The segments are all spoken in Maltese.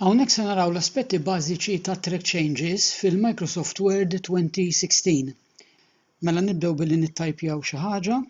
Hawnhekk se naraw l-aspetti bażiċi ta' Track Changes fil-Microsoft Word 2016. Mela nibdew billi nittajpjaw xi ħaġa.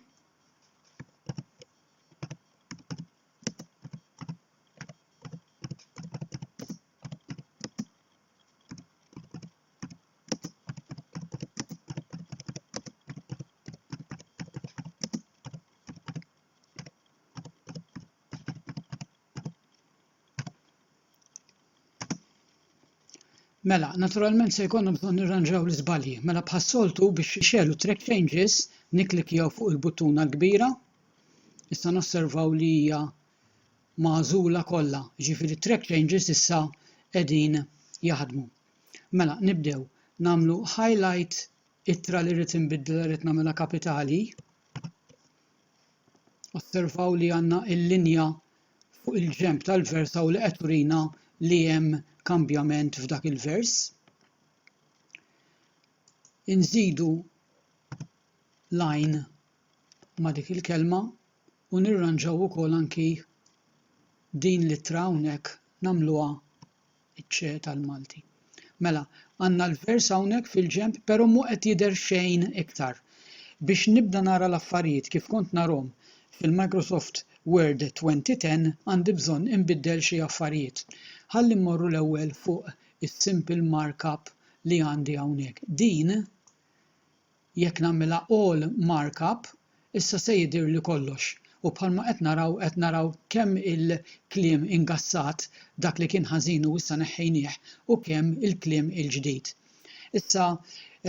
Mela, naturalment se jkollna bżonn nirranġaw l-iżbalji. Mela bħas-soltu biex ixelu track changes niklikjaw fuq il-buttuna l-kbira. Issa nosservaw li hija magħżula kollha, ġifieri track changes issa qegħdin jaħdmu. Mela nibdew nagħmlu highlight ittra li rrid inbiddel rrid nagħmilha kapitali. Osservaw li għandna l-linja fuq il-ġenb tal-vers hawn li qed turina li hemm kambjament f'dak il-vers. Inżidu lajn ma' dik il-kelma u nirranġaw ukoll anki din l-ittra hawnhekk nagħmluha iċ-ċe tal-Malti. Mela, għandna l-vers hawnhekk fil-ġenb, però mhu qed jidher xejn iktar. Biex nibda nara l-affarijiet kif kont narhom fil-Microsoft Word 2010 għandi bżonn inbiddel xi affarijiet. Ħalli mmorru l-ewwel fuq is-simple markup li għandi hawnhekk. Din Jekk nagħmilha all markup issa se jidhirli kollox u bħalma qed naraw qed naraw kemm il-kliem ingassat dak li kien ħażin u issa neħħejnieh u kemm il-kliem il-ġdid. Issa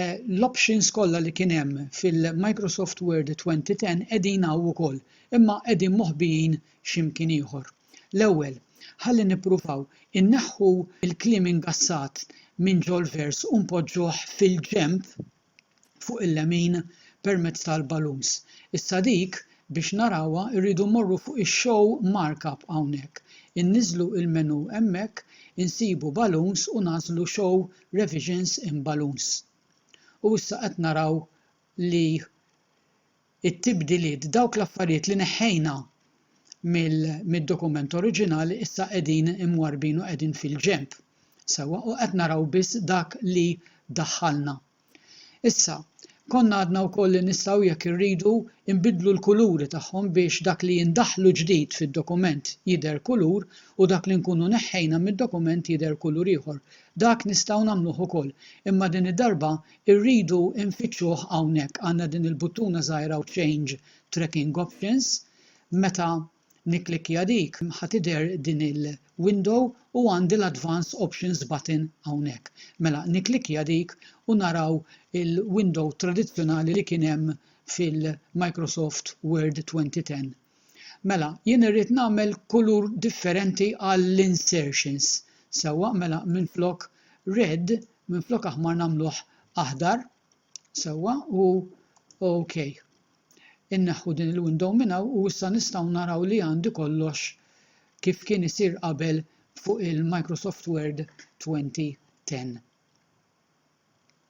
l-options kollha li kien hemm fil-Microsoft Word 2010 qegħdin hawn ukoll imma qegħdin moħbijin xi mkien ieħor. L-ewwel, ħalli nippruvaw inneħħu l-kliem ingassat minn ġol-vers u npoġġuh fil-ġenb fuq il-lemin permezz tal-balloons. Issa dik biex narawha rridu mmorru fuq ix-show markup hawnhekk, inniżżlu il-menu hemmhekk, insibu balloons u nagħżlu show revisions in balloons. U issa qed naraw li it-tibdiliet, dawk l-affarijiet li neħħejna mid-dokument oriġinali issa qegħdin imwarrbin u qegħdin fil-ġenb, sewwa, u qed naraw biss dak li daħħalna. Issa, konna għadna wkoll li nistgħu jekk irridu nbiddlu l-kuluri tagħhom biex dak li ndaħħlu ġdid fid-dokument jidher kulur u dak li nkunu neħħejna mid-dokument jidher kulur ieħor. Dak nistgħu nagħmluh ukoll, imma din id-darba Irridu nfittxuh hawnhekk għandna din il-buttuna żgħira u change tracking options meta nikklikkja dik ħa tidher din il-window u għandi l-advanced options button hawnhekk. Mela nikklikkja dik u naraw il-window tradizzjonali li kien hemm fil-Microsoft Word 2010. Mela jien irrid nagħmel kulur differenti għall-insertions sewwa mela minflok red Minflok aħmar nagħmluh aħdar sewwa u OK. Inneħħu din il-window minn hawn u issa nistgħu naraw li għandi kollox kif kien isir qabel fuq il-Microsoft Word 2010.